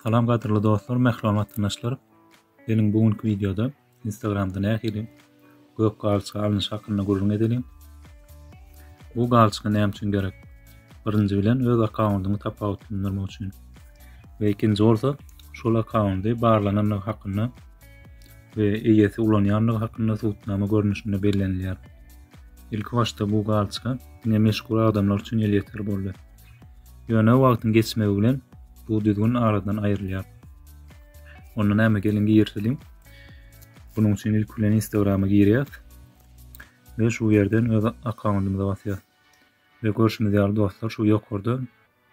Salam gadyrly dostlar, mähriban watandaşlar. Geliň bu günki wideoda Instagramda nähili gök galçygy alnyş hakynda gürrüň edeliň. Bu galçygy näme üçin gerek? Birinji bilen öz akkauntyňy tapawutlandyrmak üçin. Ve ikinci bolsa şol akkaunty barlanandygy hakynda we eýesi ulanýandygy hakynda subutnama görnüşinde bellenilýär. Ilki başda bu galçka diňe meşhur adamlar üçin elýeter boldy. Ýöne wagtyň geçmegi bilen bu düzgün aradan aýrylýar. Onda näme gelin girseliň. Bunun üçin ilk bilen Instagrama girýäs. Ve şu yerden öz akkondumyza basýas. Ve görşümüz ýaly dostlar şu ýokarda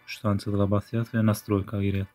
3 sany çyzyga basýas ve nastroýka girýäs.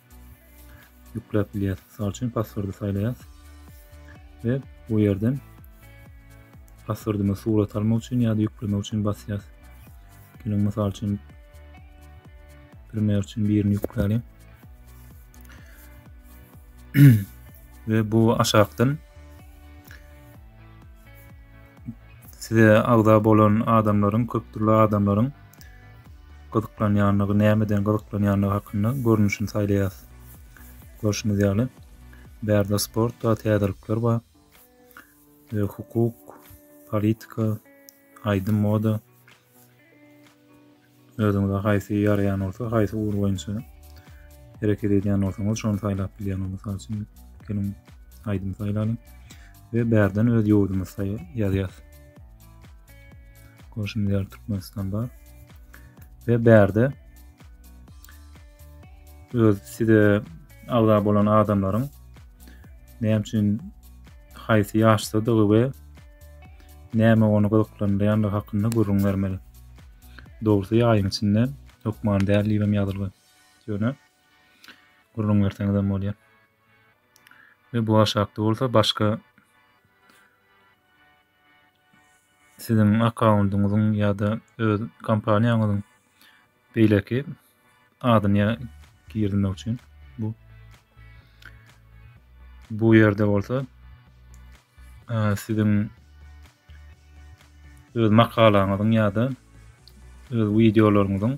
ýükläp bilýäris. Mysal üçin passwordy saýlaýas we bu ýerden passwordymyzy surat almak üçin ýa-da ýüklemek üçin basýas. Geliň mysal üçin primer üçin birini ýükläliň. we bu aşakdan size agza bolan adamlaryň, köp dürli adamlaryň gyzyklanýandygy, nämeden gyzyklanýandygy hakynda görnüşini saýlaýas. Görşüňiz ýaly, bärde sport bar, täzelikler bar. E, hukuk, politika, aýdym, moda. Özüňize haýsy ýaraýan bolsa, haýsy ugur boýunça hereket edýän bolsaňyz, şony saýlap bilýän. Mysal üçin, geliň aýdym saýlalyň we bärden öz ýurdumyzy ýazýas. Görşüňiz ýaly Türkmenistan bar. Ve bärde öz size agza bolan adamlaryň näme üçin haýsy ýaşdadygy we näme ony gyzyklandyrýandygy hakynda gürrüň bermeli. Dogrusy ýaýyň içinde hökman däl diýip hem ýazylgan. Ýöne gürrüň berseňiz hem bolýar. Ve bu aşakda bolsa başka siziň akkaundyňyzyň ýa-da öz kompaniýaňyzyň beýleki adyny girmek üçin bu bu ýerde bolsa siziň öz makalaňyzyň ýa-da öz wideolaryňyzyň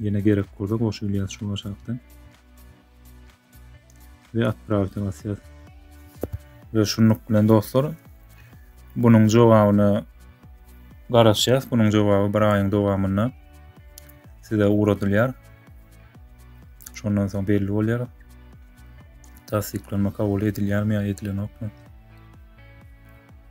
Ýene gerek bolsa goşup bilýäs şu aşakdan. Ve atpravite basýas. Ve şunluk bilen dostlar bunun jogabyna garaşýas. Bunun jogaby bir aýyň dowamynda size ugradylýar. Şondan soň belli bolýar. Tassyklama kabul edilýärmi ýa edilenokmy?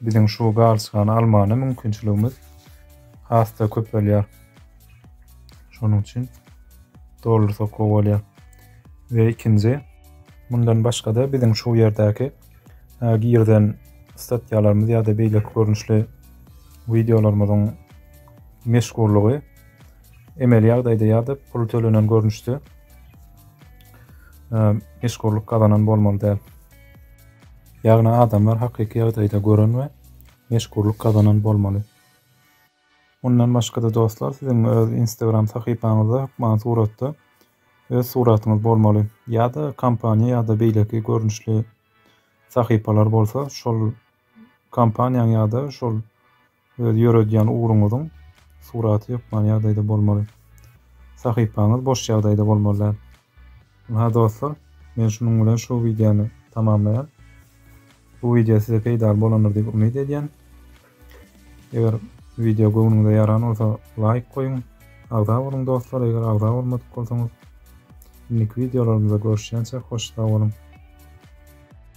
biziň şu galçygany almana mümkinçiligimiz has-da köpelýär. Şonuň üçin dollar sokak bolýar. Ve ikinci, bundan başga-da biziň şu ýerdäki e, girden statýalarymyz ýa-da beýleki görnüşli wideolarymyzyň meşgurlygy emeli ýagdaýda ýa-da pul tölenen görnüşde e, meşgurlyk gazanan bolmaly däl. Ýagny adamlar hakyky ýagdaýda gören we meşhurlyk gazanan bolmaly. Mundan başga-da dostlar siziň öz Instagram sahypaňyzda hökman suratda öz suratyňyz bolmaly. Ýa-da kompaniýa ýa-da beýleki görnüşli sahypalar bolsa şol kompaniýaň ýa-da şol Öz ýöredýän ugruňyzyň suraty hökmany ýagdaýda bolmaly. Sahypaňyz boş ýagdaýda bolmaly däl. Ynha dostlar, men şunuň bilen şu wideony tamamlaýan. Bu wideo size peýdaly bolandyr diýip umyt edýän. Eger wideo göwnüňize ýaran bolsa laýk goýuň. Agza boluň dostlar, eger agza bolmadyk bolsaňyz. Indiki wideolarymyzda görüşýänçäk hoş sag boluň.